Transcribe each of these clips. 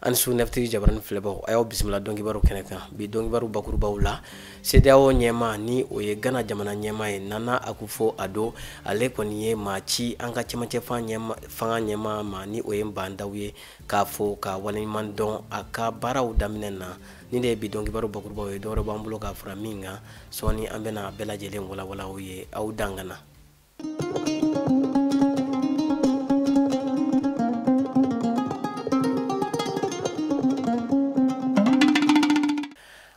a ni su nɛfitiri jabarani filɛbagaw a y'aw bisimila dɔnkibaro kɛnɛ kan bi dɔnkibaro bakurubaw la sedeyawo ɲɛma ni o ye gana jamana ɲɛma ye nana akufo ado ale kɔni ye maa ci an ka cɛmancɛ fanga ɲɛma ma ni o ye bandaw ye k'a fɔ ka waleɲuman dɔn a ka baaraw daminɛ na nin de ye bi dɔnkibaru bakurubaw ye dɔwɛrɛ b'an bolo k'a fara min kan sɔɔni an bɛna a bɛɛ lajɛlen walawala aw ye aw dangana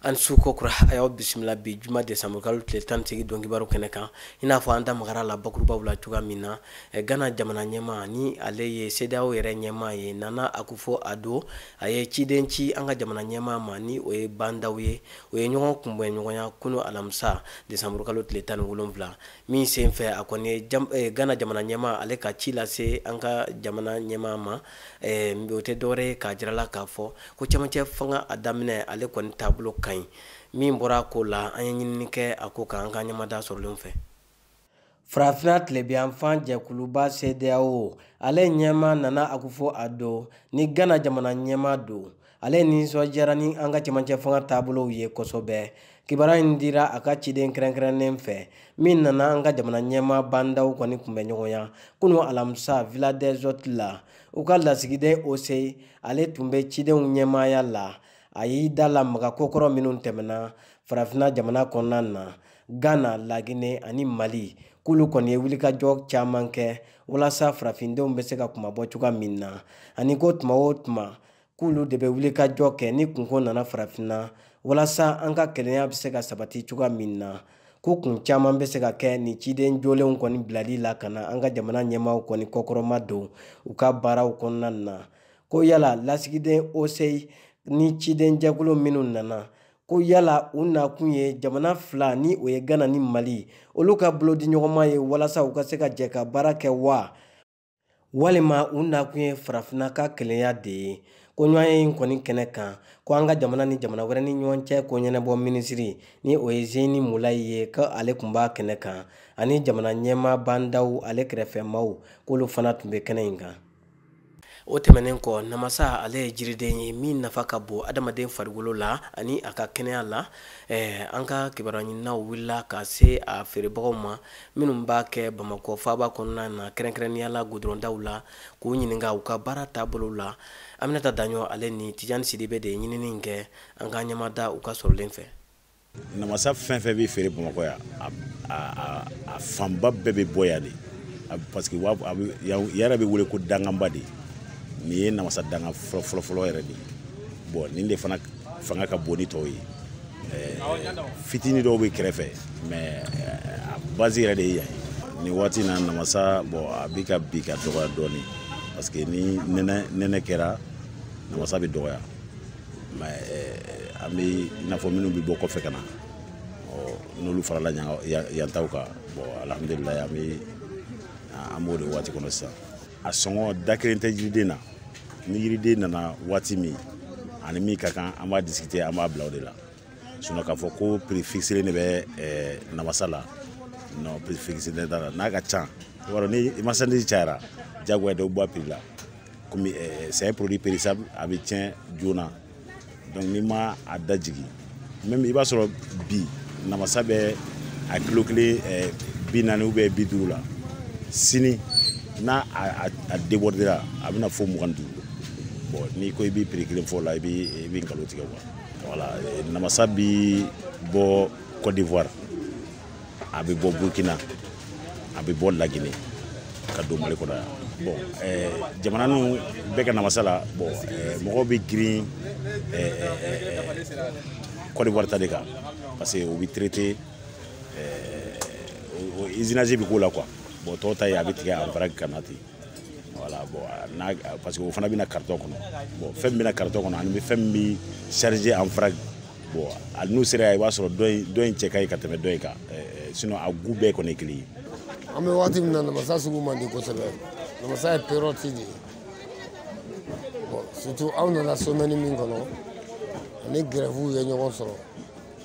a ni su kokura a y'aw bisimila bi juma desanburukalo tile tan ni segin dɔnkibaro kɛnɛ kan i n'a fɔ an da magara la bakurubaw la cogoya min na eh, gana jamana ɲɛma ni ale ye sedeyawo yɛrɛ ɲɛma ye nana akufo ado a ye ciden ci an ka jamana ɲɛma ma ni o ye bandaw ye u ye ɲɔgɔn kunbɛn ɲɔgɔnya kunu alamisa desanburukalo tile tan ni wolonwula min sen fɛ a kɔni ye eh, gana jamana ɲɛma ale ka ci lase an ka jamana ɲɛma ma Eh, o tɛ dɔwɛrɛ ye k'a jirala k'a fɔ ko cɛmancɛ fanga a daminɛ ale kɔni taabolo ka ɲi min bɔra a ko la an ye ɲinini kɛ a ko kan an ka ɲɛmada sɔrɔlen fɛ farafina tilebiyanfan jɛkuluba sedeyawo ale ɲɛma nana akufo ado ni gana jamana ɲɛma don ale nisɔndiyara ni an ka cɛmancɛ fanga taabolow ye kosɛbɛ kibaruya in dira a ka ciden kɛrɛnkɛrɛnnen fɛ min nana an ka jamana ɲɛma bandaw kɔni kunbɛn ɲɔgɔnya kunu alamisa villa des hôtes la u ka lasigiden osei ale tun bɛ cidenw ɲɛmaaya la a y'i da lamaga ko kɔrɔ minnu tɛmɛna farafinna jamana kɔnɔna na gana lagine ani mali k'olu kɔni ye wulikajɔ caman kɛ walasa farafindenw bɛ se ka kunmabɔ cogoya min na ani ko tuma o tuma k'olu de bɛ wulikajɔ kɛ ni kunko nana farafinna walasa an ka kelenya bɛ se ka sabati cogoya min na ko kun caman bɛ se ka kɛ nin ciden jɔlenw kɔni bilali la ka na an ka jamana ɲɛmaaw kɔni kɔkɔrɔmadon u ka baaraw kɔnɔna na ko yala lasigiden osei ni ciden jɛkulu minnu nana ko yala u nakun ye jamana fila ni o ye gana ni mali olu ka bolodiɲɔgɔnma ye walasa u ka se ka jɛ ka baara kɛ wa walima u nakun ye farafinna ka kelenya de ye ko ɲɔgɔnye in kɔni kɛnɛ kan ko an ka jamana ni jamana wɛrɛ ni ɲɔgɔn cɛ ko ɲɛnabɔ minisiri ni o ye zeni mulayi ye ko ale tun b'a kɛnɛ kan ani jamana ɲɛma bandaw ale kɛrɛfɛmaaw k'olu fana tun bɛ kɛnɛ in kan o tɛmɛnen kɔ namasa ale ye jiriden ye min nafa ka bon adamaden farikolo la ani a ka kɛnɛya la eh, an ka kibaruyaɲininaw wulila ka se a feerebagaw ma minnu b'a kɛ bamakɔ faaba kɔnɔna na kɛrɛnkɛrɛnnenya la gudɔrɔndaw la k'u ɲininka u ka baara taabolo la aminata daɲɔ ale ni tijani sidibe de ye ɲinini in kɛ an ka ɲɛmada u ka sɔrɔlen fɛ namasa fɛn fɛn bɛ feere bamakɔ yan a fanba bɛɛ bɛ bɔ yan de parce que yɛrɛ bɛ wele ko dangaba de nin ye namasa danga fɔlɔfɔlɔ yɛrɛ de ye bon nin de fana fanga ka bon ni tɔw ye fitini dɔw bɛ kɛrɛfɛ mais a base yɛrɛ de ye yan ye nin waati na namasa bon a bɛ ka bi ka dɔgɔya dɔɔni parce que ni nɛnɛ kɛra namasa bɛ dɔgɔya mais an bɛ i n'a fɔ minnu bɛ bɔ kɔfɛ ka na n'olu farala yan taw kan bon alihamudulilayi an bɛ an b'o de waati kɔnɔ sisan a sɔngɔ da kelen tɛ jiriden na ni yiriden nana waati min ani min ka kan an b'a discuter an b'a bila o de la sinon k'a fɔ ko prix fixelen de bɛ eh, namasa la non prix fixe t'a la n'a ka ca i b'a dɔn ni marchandise cayara jagoya dɔ bɛ bɔ a prix la comme eh, c'est un produit périssable a bɛ tiɲɛ joona donc n'i ma a da jigin même i b'a sɔrɔ bi namasa bɛ a kilo kelen eh, bi naani ou bien bi duuru la sini n'a débordera a bɛ na fo mugan duuru bon n'i ko i bɛ prix kelen fɔ a la i bɛ nkalon tigɛ quoi voilà eh, namasa bi bɔ Côte d'Ivoire a bɛ bɔ burkina a bɛ bɔ lagine ka don mali kɔnɔ yan bon eh, jamana ninnu bɛɛ ka namasa la bon eh, mɔgɔw bɛ girin eh, kɔdiwari ta de kan parce que o bɛ traité usinage bɛ k'o la quoi bon tɔw ta ye a bɛ tigɛ en vrac ka na ten voilà bon parce que o fana bɛ na carton kɔnɔ bon fɛn min bɛ na carton kɔnɔ ani bɛ fɛn min bɛ chargé en vrac bon hali n'u sera yan i b'a sɔrɔ dɔ in cɛ ka ɲi ka tɛmɛ dɔ in kan sinon a goût bɛɛ kɔni ye kelen ye. an bɛ waati min na namasa sugu man di kosɛbɛ namasa ye période de ye bon surtout aw nana semaine min kɔnɔ ani grève ye ɲɔgɔn sɔrɔ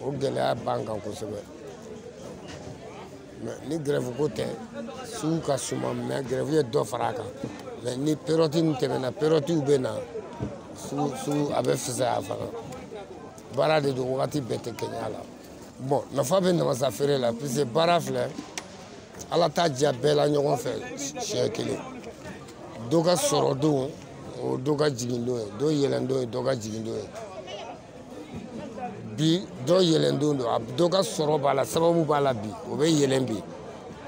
o gɛlɛya b'an kan kosɛbɛ. ni grève ko tɛ sugu ka suma mais grève ye dɔ fara a kan mais ni période nin tɛmɛna périodew bɛ na sugu a bɛ fisaya fana baara de don wagati bɛɛ tɛ kɛɲɛ a la bon nafa bɛ namasa feere la puisque baara filɛ ala t'a diya bɛɛ la ɲɔgɔn fɛ siɲɛ kelen dɔ ka sɔrɔ don o dɔ ka jigin don ye dɔ yɛlɛn don ye dɔ ka jigin don ye bi dɔ yɛlɛn don don a dɔ ka sɔrɔ b'a la sababu b'a la bi o bɛ yɛlɛn bi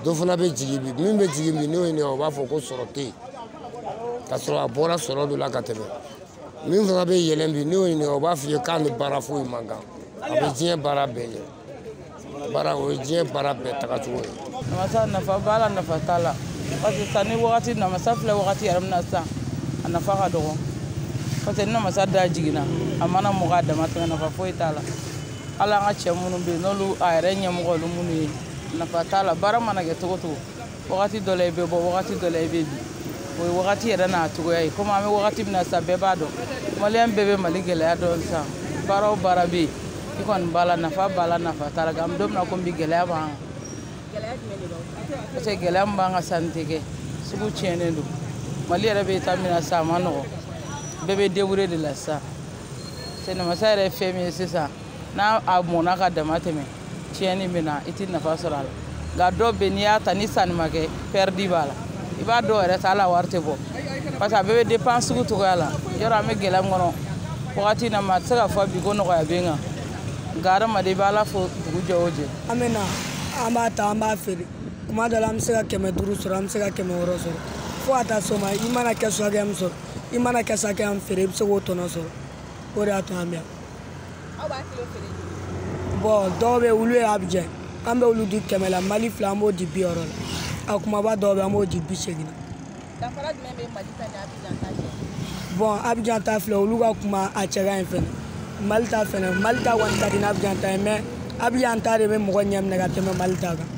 dɔ fana bɛ jigin bi min bɛ jigin bi n'i y'o ɲininka o b'a fɔ ko sɔrɔ tɛ yen k'a sɔrɔ a bɔra sɔrɔ dɔ la ka tɛmɛ min fana bɛ yɛlɛn bi n'i y'o ɲininka o b'a f'i ye k'a ni baara foyi man kan a bɛ diɲɛ baara bɛɛ ɲɛ baara o ye diɲɛ baara bɛɛ tagacogo ye namasa nafa b'a la nafa t'a la parce que sisan ni wagati namasa filɛ wagati yɛrɛ min na sisan a nafa ka dɔgɔ parce que ni namasa da jiginna a mana mɔ k'a dama tɛmɛ nafa foyi t'a la hali an ka cɛ minnu bɛ yen n'olu a yɛrɛ ɲɛmɔgɔ olu minnu ye nafa t'a la baara mana kɛ cogo o cogo wagati dɔ la i bɛ bɔ wagati dɔ la i bɛ bin o ye wagati yɛrɛ n'a cogoya ye komi an bɛ wagati min na sisan bɛɛ b'a dɔn maliyɛn bɛɛ bɛ mali gɛlɛya dɔn sisan baara o baara bɛ yen i kɔni b'a la nafa b'a la nafa t'a la nka an bɛ don min na komi bi gɛlɛya b'an kan parce que gɛlɛya min b'an ka sanni tɛ kɛ sugu tiɲɛnen don mali yɛrɛ bɛ taa min na sisan a ma nɔgɔn bɛɛ bɛ débrouiller de la sisan c'est namasa yɛrɛ ye fɛn min ye sisan n'a mɔnna ka dama tɛmɛ tiɲɛni bɛ na i tɛ nafa sɔrɔ a la nka dɔw bɛ n'i y'a ta ni sanni ma kɛ pɛridi b'a la i b'a dɔw yɛrɛ ta hali a wari tɛ bɔ parce que a bɛɛ bɛ dépend sugu cogoya la yɔrɔ an bɛ gɛlɛya min kɔnɔ wagati in na ma a tɛ se ka fɔ bi ko nɔgɔya b'an kan nka hadamaden i bɛ ala fo dugu jɛ o jɛ an bɛ na an b'a ta an b'a feere kuma dɔ la an bɛ se ka kɛmɛ duuru sɔrɔ an bɛ se ka kɛmɛ wɔɔrɔ sɔrɔ fo ka taa s'o ma i mana kɛ hakɛya min sɔrɔ i mana kɛ hakɛya min feere i bɛ se k'o tɔnɔ sɔrɔ o de y'a to an bɛ yan aw b'a kilo feere bɔn dɔw bɛ olu ye abijan an bɛ olu di kɛmɛ la mali fila an b'o di bi wɔɔrɔ la a kumaba dɔw bɛ an b'o di bi seegin na danfara jumɛn bɛ mali ta ni abijan ta cɛ bɔn abijan ta filɛ olu ka kuma a cɛ ka ɲi fɛnɛ mali ta fɛnɛ mali ta kɔni ka di ni abijan ta ye mɛ abijan ta de bɛ mɔgɔ ɲɛ minɛ ka tɛmɛ mali ta kan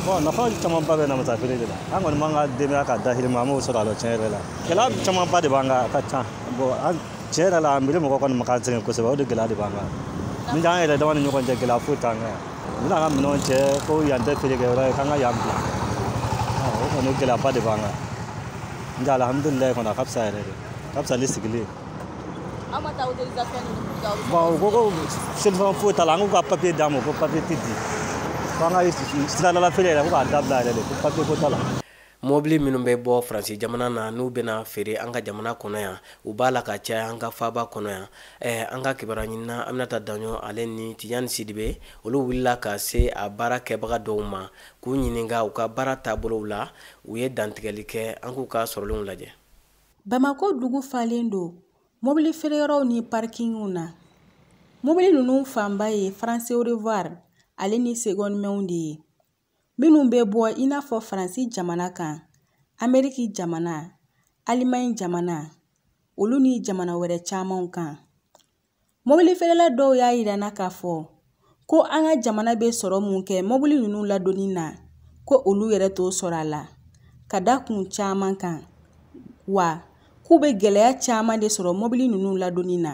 bɔn nafa camanba bɛ namasa feere de la an kɔni b'an ka denbaya ka dahirimɛ an b'o sɔrɔ a la tiɲɛ yɛrɛ la gɛlɛya camanba de b'an kan a ka ca bɔn tiɲɛ yɛrɛ la mɛri mɔgɔ kɔni bɛ k'an sɛgɛn kosɛbɛ o de gɛlɛya de b'an kan n'o t'an yɛrɛ dama ni ɲɔgɔn cɛ gɛlɛya foyi t'an kan u bɛna an ka minɛnw cɛ ko yan tɛ feerekɛyɔrɔ ye k'an ka yan bila o kɔni o gɛlɛyaba de b'an kan n tɛ alihamudulilayi kɔni a ka fisa yɛrɛ de a ka fisa ni sigili ye bɔn u ko ko solution foyi t'a la an k'u ka papiye d'an ma ko papiye tɛ di ko an ka siradalafeere yɛrɛ ko k'a dabila yɛrɛ de ko papiye ko t'a la mɔbili minnu bɛ bɔ faransi jamana na n'u bɛna feere an ka jamana kɔnɔ yan u b'a la ka caya an ka faaba kɔnɔ yan eh, an ka kibaruya ɲinina aminata daɲɔ ale ni tijani sidibe olu wulila ka se a baara kɛbaga dɔw ma k'u ɲininka u ka baara taabolow la u ye dantigɛli kɛ an k'u ka sɔrɔlenw lajɛ bamako dugu falen don mɔbili feereyɔrɔw ni parikingiw na mɔbili ninnu fanba ye france au revoir ale ni segɔnimɛnw de ye minnu bɛ bɔ i n'a fɔ faransi jamana kan ameriki jamana alimaɲi jamana olu ni jamana wɛrɛ camanw kan mobili feerela dɔw y'a yira an na k'a fɔ ko an ka jamana bɛ sɔrɔ mun kɛ mobili ninnu ladonni na ko olu yɛrɛ t'o sɔrɔ a la ka da kun caman kan wa k'u bɛ gɛlɛya caman de sɔrɔ mobili ninnu ladonni na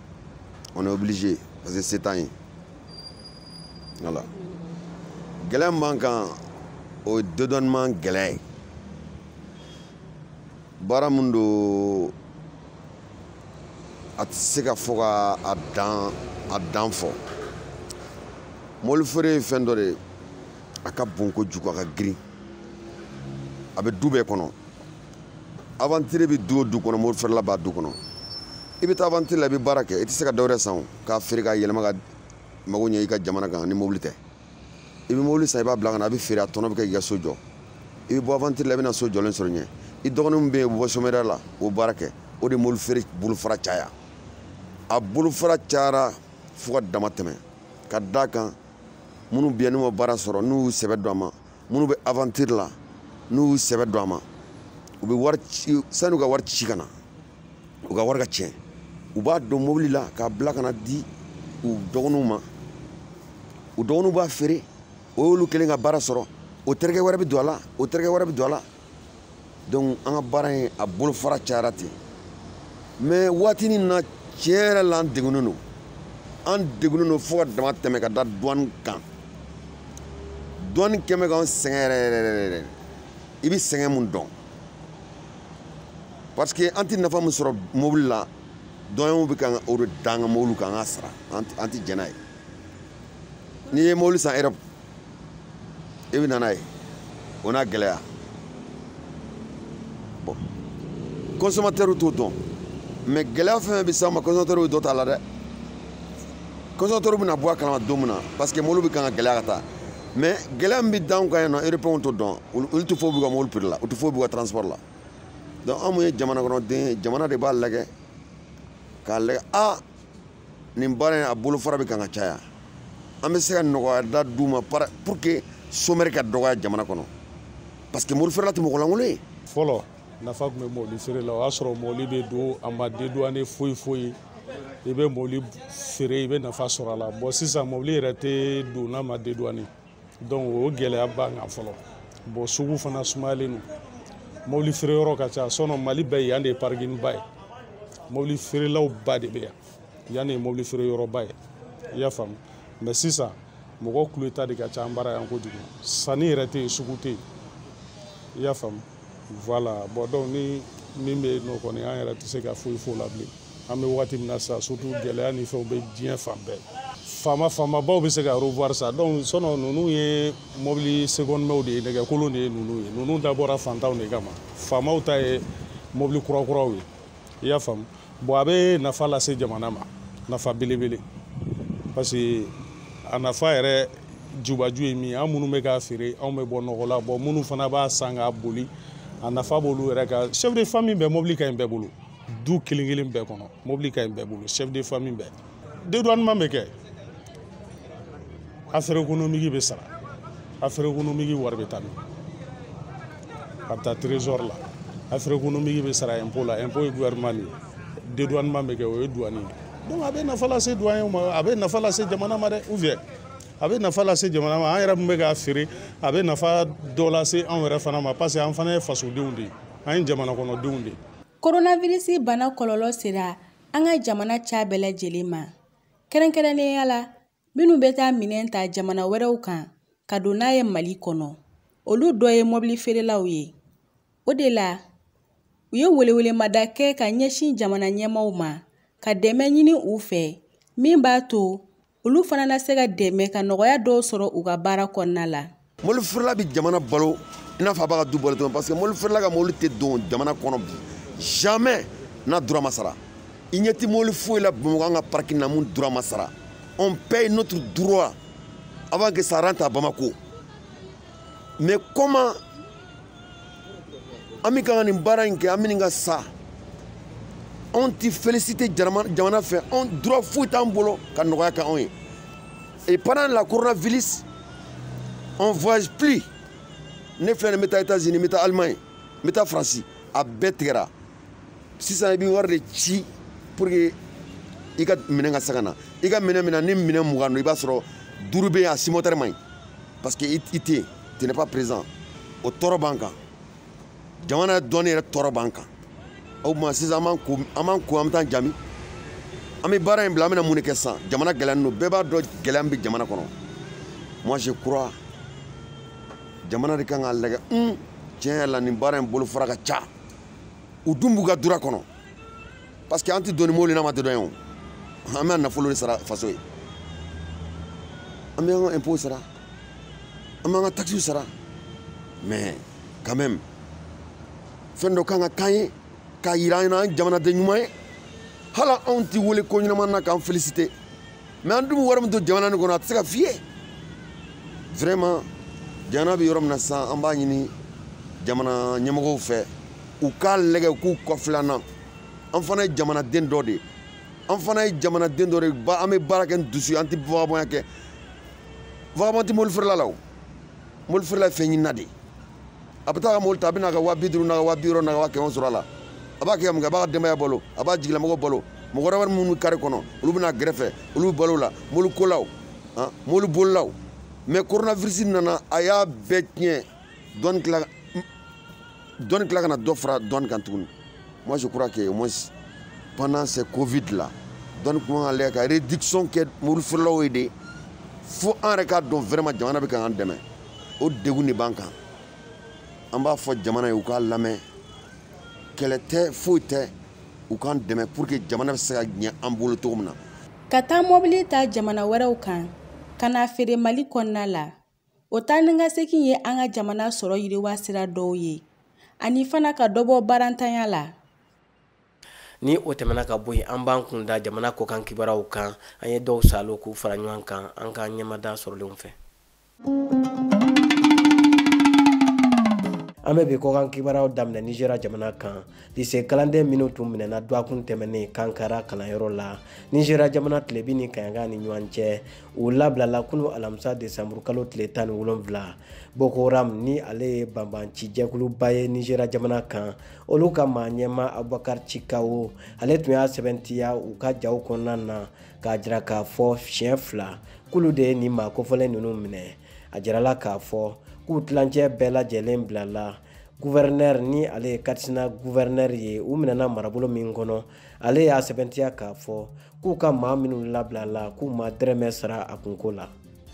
on est obligé parce que c'est an voilà gɛlɛya min b'an kan o ye dédouanement gɛlɛya ye baara min don a tɛ se ka fɔ ka a dan fɔ mɔbili feere ye fɛn dɔ de ye a ka bon kojugu a ka girin a bɛ du bɛɛ kɔnɔ aventure bɛ du o du kɔnɔ mobili feerela b'a du kɔnɔ i bɛ taa aventure la i bɛ baara kɛ i tɛ se ka dɔ wɛrɛ san k'a feere k'a yɛlɛma ka mago ɲɛ i ka jamana kan ni mobili tɛ i bɛ mobili san i b'a bila ka na a bɛ feere a tɔnɔ bɛ kɛ k'i ka so jɔ i bɛ bɔ aventure la i bɛna so jɔlen sɔrɔ ɲɛ i dɔgɔnin min bɛ yen o bɛ bɔ somɛriya la o baara kɛ o de mobili feere bolofara caya a bolofara cayara fo ka dama tɛmɛ ka d'a kan minnu bɛ yan n'u ma baara sɔrɔ n'u y'u sɛbɛ don a ma minnu bɛ aventure la n'u y'u sɛbɛ don a ma u bɛ wari ci san'u ka wari ci ka na u ka wari ka tiɲɛ u b'a don mobili la k'a bila ka na di u dɔgɔninw ma u dɔgɔninw b'a feere o y'olu kɛlen ka baara sɔrɔ o terikɛ wɛrɛ bɛ don a la o terikɛ wɛrɛ bɛ don a la donc an ka baara in a bolofara cayara ten mais waatinin na tiɲɛ yɛrɛ la an degunnen don an degunnen don fo ka dama tɛmɛ ka da duwani kan duwani kɛ bɛ k'an sɛgɛn yɛrɛ yɛrɛ yɛrɛ yɛrɛ i bɛ sɛgɛn min dɔn parce que an tɛ nafa min sɔrɔ mobili la duwaniw bɛ kan o de da an ka mobili kan an k'a sara an tɛ jɛn n'a ye n'i ye mobili san erɔpu i bɛ na n'a ye o n'a gɛlɛya bon consommateurw t'o dɔn mais gɛlɛya fɛn fɛn bɛ s'an ma consommateurw bɛ dɔ t'a la dɛ consommateurw bɛna bɔ a kalama don min na parce que mɔbiliw bɛ kan ka gɛlɛya ka taa mais gɛlɛya min bɛ d'anw kan yan nɔ européenw t'o dɔn olu tɛ foyi b'u ka mɔbili prix la u tɛ foyi b'u ka transport la donc an min ye jamana kɔnɔden ye jamana de b'a lajɛ k'a lajɛ aa nin baara in a bolofara bɛ kan ka caya an bɛ se ka nɔgɔya da d'u ma pour que somɛri ka dɔgɔya jamana kɔnɔ parce que mɔbili feerela tɛ mɔgɔ lankolon ye fɔlɔ nafa tun bɛ mɔbili feere la o y'a sɔrɔ mɔbili bɛ don a ma dédouané foyi foyi i bɛ mɔbili feere i bɛ nafa sɔrɔ a la bon sisan mɔbili yɛrɛ tɛ don n'a ma dédouané donc o gɛlɛya b'an kan fɔlɔ bon sugu fana sumayalen don mobili feere yɔrɔ ka ca sɔnɔ mali bɛɛ yan de ye parikini ba ye mobili feerelaw ba de bɛ yan yan de ye mobili feere yɔrɔba ye i y'a faamu mais sisan mɔgɔ kuleta de ka ca an bara yan kojugu sanni yɛrɛ tɛ yen sugu tɛ yen i y'a faamu voilà bon donc ni min bɛ yen nɔ kɔni an yɛrɛ tɛ se ka foyi f'o la bilen an bɛ wagati min na sa surtout gɛlɛya ni fɛnw bɛ diɲɛ fan bɛɛ faama faamabaw bɛ se ka revoir sa donc sɔnɔ ninnu ye mɔbili seconde mainw de ye nɛgɛkolon de ye ninnu ye ninnu dabɔra fantanw de kama faamaw ta ye mɔbili kurakuraw ye i y'a faamu bon a bɛ nafa lase jamana ma nafa belebele parce que a nafa yɛrɛ jubaju ye min ye an minnu bɛ k'a feere anw bɛ bɔ nɔgɔ la bon minnu fana b'a san k'a boli a nafa b'olu yɛrɛ kan chef de famille bɛɛ mobili ka ɲi bɛɛ bolo du kelen kelen bɛɛ kɔnɔ mobili ka ɲi bɛɛ bolo chef de famille bɛɛ dédouanement bɛ kɛ affaire économique bɛ sara affaire économique wari bɛ taa min a bɛ taa trésor la affaire économique bɛ sara impôt la impôt ye gouvernement de ye dédouanement bɛ kɛ o ye douane ye donc a bɛ nafa lase douaniers ma a bɛ nafa lase jamana ma dɛ ou bien a bɛ nafa lase jamana ma an yɛrɛ min bɛ k'a feere a bɛ nafa dɔ lase anw yɛrɛ fana ma parce que an fana ye fasodenw de ye an ye jamana kɔnɔdenw de ye. coronavirus bana kɔlɔlɔ sera an ka jamana ca bɛɛ lajɛlen ma kɛrɛnkɛrɛnnenya la minnu bɛ taa minɛn ta jamana wɛrɛw kan ka don n'a ye mali kɔnɔ olu dɔ ye mɔbili feerelaw ye o de la u ye welewelemada kɛ ka ɲɛsin jamana ɲɛmaaw ma ka dɛmɛ ɲini u fɛ min b'a to olu fana na se ka dɛmɛ ka nɔgɔya dɔw sɔrɔ u ka baara kɔnɔna la mɔbili feerela bɛ jamana balo i n'a fɔ a b'a ka du balo cogo parce que mɔbili feerela ka mɔbili tɛ don jamana kɔnɔ bi jamais n'a droit ma sara i ɲɛ tɛ mɔbili foyi la bamakɔ an ka parking na mun droit ma sara on paye notre droit avant que ça rentre à Bamako mais comment an bɛ kan ka nin baara in kɛ an bɛ ɲini ka sa anw tɛ félicité jamana fɛ anw droit foyi t'an bolo ka nɔgɔya kɛ anw ye et pendant la coronavirus on voyage plus ne filɛ nin n bɛ taa états unis n bɛ taa allemagne n bɛ taa faransi a bɛɛ tigɛra sisan i bɛ wari de ci pour que i ka minɛn ka se ka na i ka minɛn min na ni minɛn mugan don i b'a sɔrɔ duuru bɛ yen a si mɔtɛri man ɲi parce que i tɛ yen tu n'es pas présent o tɔɔrɔ b'an kan jamana donni yɛrɛ tɔɔrɔ b'an kan o tuma sisan an b'an ko an b'an ko an bɛ taa jami an bɛ baara in bila an bɛna mun de kɛ sisan jamana gɛlɛyalen don bɛɛ b'a dɔn gɛlɛya min bɛ jamana kɔnɔ moi je crois jamana de kan k'a lajɛ un tiɲɛ yɛrɛ la nin baara in bolofara ka ca u dun b'u ka droit kɔnɔ parce que an tɛ don ni mobili n'a ma dédouané o an bɛ nafolo de sara faso ye an bɛ an ka impôt sara an b'an ka taxes sara mais quand même fɛn dɔ kan ka k'an ye k'a yira an na an jamanaden ɲuman ye hali anw tɛ wele ko ɲɛnama na k'an féliciter mais an dun bɛ wari min to jamana nin kɔnɔ a tɛ se ka f'i ye vraiment jamana bɛ yɔrɔ min na sisan an b'a ɲini jamana ɲɛmɔgɔw fɛ u k'a lajɛ u k'u kɔfilɛ an na an fana ye jamanaden dɔ de ye an fana ye jamanaden dɔ de ye an bɛ baara kɛ ni dusu ye an tɛ vagabɔnya kɛ vagabɔn tɛ mobili feerela la o mobili feerela ye fɛn ɲinina de ye a bɛ taa ka mobili ta a bɛ na a ka waa bi duuru n'a ka waa bi wɔɔrɔ n'a ka waa kɛmɛ sɔrɔ a la a b'a kɛ ka mun kɛ a b'a ka denbaya balo a b'a jigilamɔgɔ balo mɔgɔ wɛrɛ minnu bɛ kari kɔnɔ olu bɛna gɛrɛfɛ olu bɛ balo a la mobili kolaw mobili bolilaw mais coronavirus nana a y'a bɛɛ tiɲɛ douane tila ka na dɔ fara douane kan tuguni Moi, je crois que au moins pendant ce Covid-là, douane kuma k'a lajɛ ka réduction kɛ mobili feerelaw ye de fo an yɛrɛ k'a dɔn vraiment jamana bɛ k'an dɛmɛ o degun de b'an kan an b'a fɔ jamana ye u k'a lamɛn kɛlɛ tɛ foyi tɛ u k'an dɛmɛ pour que jamana bɛ se ka ɲɛ an bolo cogo min na ka taa mobili ta jamana wɛrɛw kan ka na feere mali kɔnɔna la O taa ni ka segin ye an ka jamana sɔrɔ yiriwa sira dɔw ye ani fana ka dɔ bɔ baarantanya la ni o tɛmɛna ka bɔ yen an b'an kun da jamana kɔkan kibaraw kan an ye dɔw salo k'u fara ɲɔgɔn kan an ka ɲɛmada sɔrɔlenw fɛ an bɛ bi kɔkan kibaraw daminɛ nizeriya jamana kan lise kalanden minnu tun minɛna dwakun tɛmɛnen kankara kalanyɔrɔ la nizeriya jamana tilebi ni kaɲaka ni ɲɔgɔn cɛ u labilala kunu alamisa desanburu kalo tile tan ni wolonwula boko haram ni ale ye banbanci jɛkuluba ye nizeriya jamana kan olu ka maa ɲɛmaa abubakar shekau ale tun y'a sɛbɛntiya u ka jaw kɔnɔna na k'a jira k'a fɔ siɲɛ fila k'olu de ye nin maa kofɔlen ninnu minɛ a jirala k'a fɔ k'u tilancɛ bɛɛ lajɛlen bilala guvɛrinɛri ni ale ye katisina guvɛrinɛri ye u minɛna marabolo min kɔnɔ ale y'a sɛbɛntiya k'a fɔ k'u ka maa minnu labilala k'u ma dɛrɛmɛ sara a kunko la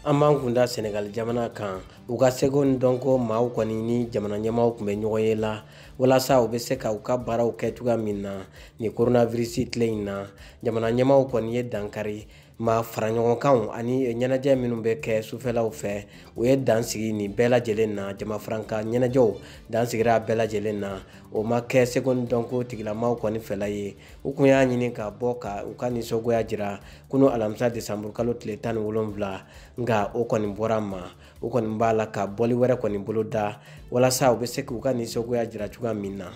an b'an kun da sɛnɛgali jamana kan u ka seko ni dɔnko maaw kɔni ni jamana ɲɛmaaw tun bɛ ɲɔgɔn ye la walasa u bɛ se ka u ka baaraw kɛ cogoya min na nin koronavirisi tile in na jamana ɲɛmaaw kɔni ye dankari maa fara ɲɔgɔn kanw ani ɲɛnajɛ minnu bɛ kɛ sufɛlaw fɛ u ye dan sigi nin bɛɛ lajɛlen na jama farankan ɲɛnajɛw dan sigira a bɛɛ lajɛlen na o ma kɛ seko ni dɔnko tigilamaw kɔni fɛla ye u kun y'a ɲini ka bɔ ka u ka nisɔngoya jira kunu alamisa desanburukalo tile tan ni wolonwula nka o kɔni bɔra a ma u kɔni b'a la ka bɔli wɛrɛ kɔni boloda walasa u bɛ se k'u ka nisɔngoya jira cogoya min na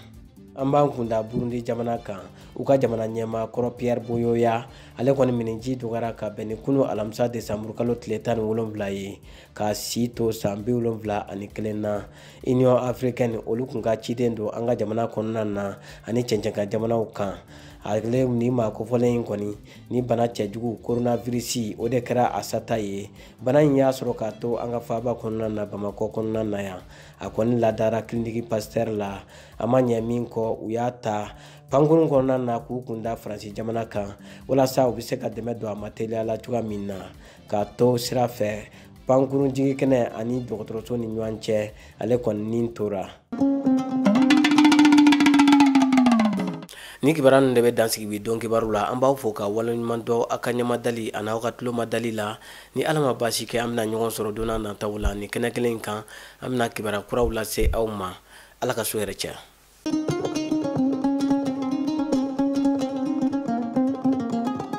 an b'an kun da burundi jamana kan u ka jamana ɲɛmaa kɔrɔ pierre buyoya ale kɔni minniji dɔgɔyara ka bɛn ni kunu alamisa desanburukalo tile tan ni wolonwula ye k'a si to san bi wolonwula ani kelen na union africaine olu kun ka ciden don an ka jamana kɔnɔna na ani cɛncɛnkan jamanaw kan ale nin maa kofɔlen in kɔni nin bana cɛjugu coronavirisi o de kɛra a sata ye bana in y'a sɔrɔ k'a to an ka faaba kɔnɔna na bamakɔ kɔnɔna na yan a kɔni ladara kiliniki pasitɛri la a ma ɲɛ min kɔ u y'a ta pankurun kɔnɔna na k'u kun da faransi jamana kan walasa u bɛ se ka dɛmɛ don a ma teliya la cogoya min na k'a to sira fɛ pankurun jigikɛnɛ ani dɔgɔtɔrɔso ni ɲɔgɔn cɛ ale kɔni ni tora nin kibaruya ninnu de bɛ dan sigi bi don kibaru la an b'aw fo ka waleɲuman dɔn aw ka ɲɛmadali ani aw ka tulomadali la ni ala ma baasi kɛ an bɛna ɲɔgɔn sɔrɔ don nataw la nin kɛnɛ kelen kan an bɛna kibaruya kuraw lase aw ma ala ka su hɛrɛ caya